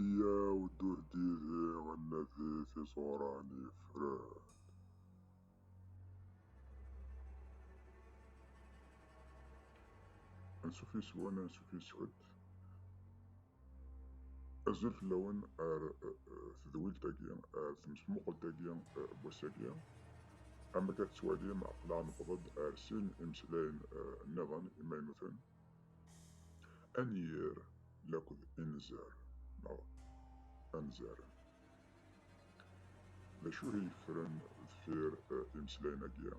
Iyyaw d uhdidi ad nadi tiẓuran yeffren. Ansuf yes-wen, ansuf yes-kent. Azul fell-awen ar tedwilt-agi, ar temesmuqelt-agi n wass-agi. Amek ad tettwalim, aql-aɣ newweḍ-d ar sin imeslayen niḍen imaynuten. Anyir laked inzar neɣ anzaren. D acu i yeffren deffir imeslayen-agi?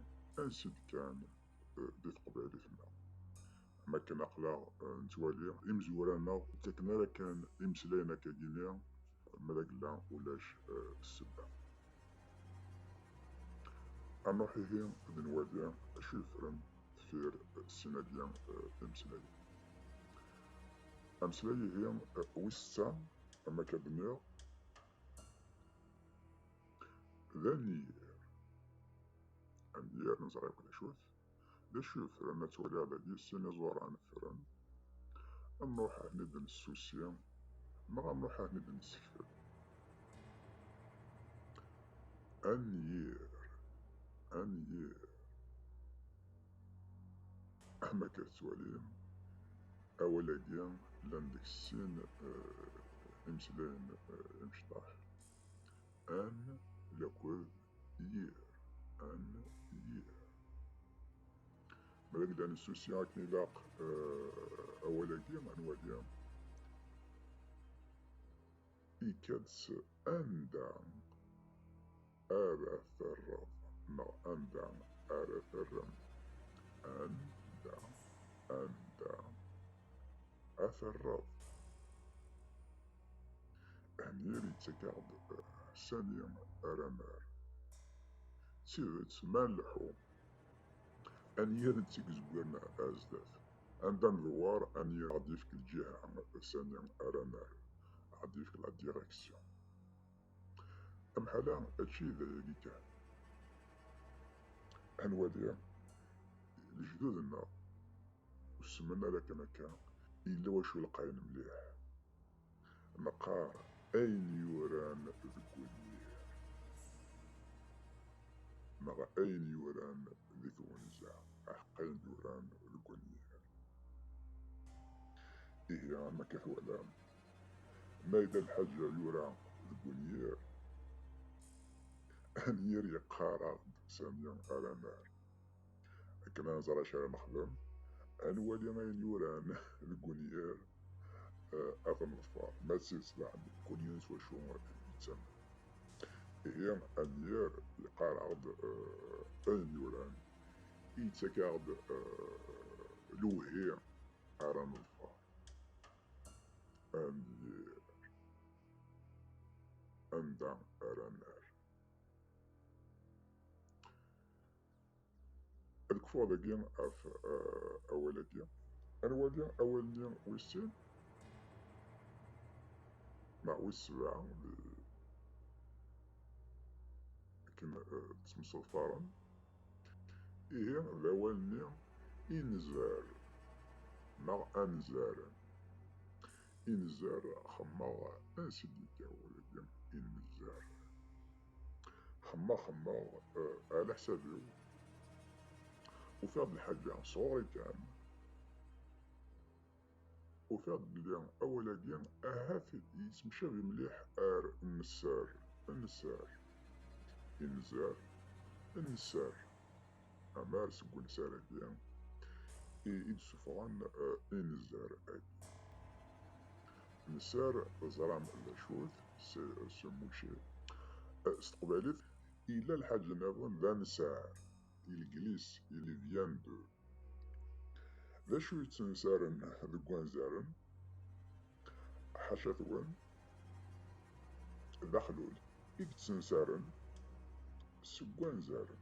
Ansi-d kan di teqbaylit-nneɣ. Am akken aqlaɣ nettwali imezwura-nneɣ ur ttaken ara kan imeslayen akkagi-nni ma d agella ulac ssebba. Anuḥ ihi d nwali acu yeffren deffir sin-agi timeslayin. Ameslay ihi wis setta am akka d-nniɣ d anyir. Anyir neẓra akk d acu-t. D acu yeffren ad twaliḍ dagi sin iẓuran ffren. Am ruḥ ahni d-nessusi neɣ am ruḥ ahni d-nessekfel. Anyir, anyir. Ama akka tettwalim, awal-agi llan deg sin eh, imeslayen eh, imecṭaḥ. An lakud yir, an yir. Ma deg dan susi akken ilaq eh, awal-agi, anwa-gi? Ikad s anda ara terreḍ neɣ anda ara terrem. Anda, anda ad terreḍ. Amir yettak-aɣ-d sani ara nerr. D tidet ma nleḥḥu ad nirr d tigezwirna ar zdat. Anda nedwar, anyi ad yefk lǧiha sani ara nerr, ad yefk la direction. Amḥala ačči d ayagi kan. Ad nwali lejdud-nneɣ usmen ala kan akka, yella wacu lqayen mliḥ. Neqqar ayen yuran deg unyir neɣ ayen yuran deg twenza, aḥeq ayen yuran deg unyir. Ihi am akka twalam, ma yella lḥaǧa yura deg unyir, anyir yeqqar-aɣ-d sani ara nerr. akken ad nẓer acu ara nexdem, ad nwali ayen yuran deg unyir, eh, ad neḍfer, ma d tidet daɣen kul yiwen s wacu yettamen. Ihi anyir yeqqar-aɣ-d eh, ayen yuran, yettak-aɣ-d eh, lewhi ara neḍfer. Anyir anda ara nerr. Ad kfuɣ dagi ɣef eh, awal-agi. Ar wagi awal-nni wis sin neɣ wis sebɛa di akken eh, ttemseḍfaren. Ihi d awal-nni inzar neɣ anzar. Inzar xemmeɣ ansi d-yekka awal-agi inzar. xemmeɣ xemmeɣ uh, ala ḥsabiw ufiɣ-d lḥaǧa sɣuɣ kan ufiɣ-d belli awal-agi ahat yettemcabi mliḥ ar nessar nessar inzar nessar Amar seg unsar-agi i d-sufɣen eh, inzar agi. Nsar teẓram d acu-t s muci. Eh, s teqbaylit yella lḥaǧ niḍen d ansar, ilglis, ilivyan de. D acu yettensaren deg wanzaren? Ḥaca-twen, d axlul i yettensaren seg wanzaren.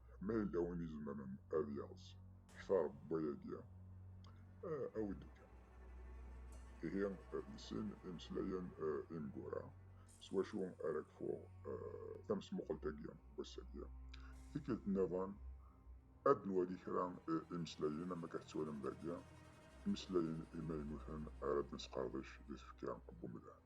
Ma yella win izemren ad yeɣs kfa rebwa-agi, awi-d kan. Ihi d sin imeslayen imgura s wacu ara kfuɣ tamesmuqelt-agi n wass-agi. Tikkelt nniḍen ad nwali kra imeslayen am akka tettwalim dagi, imeslayen imaynuten ara d-nesqerdec di tfekka n umdan.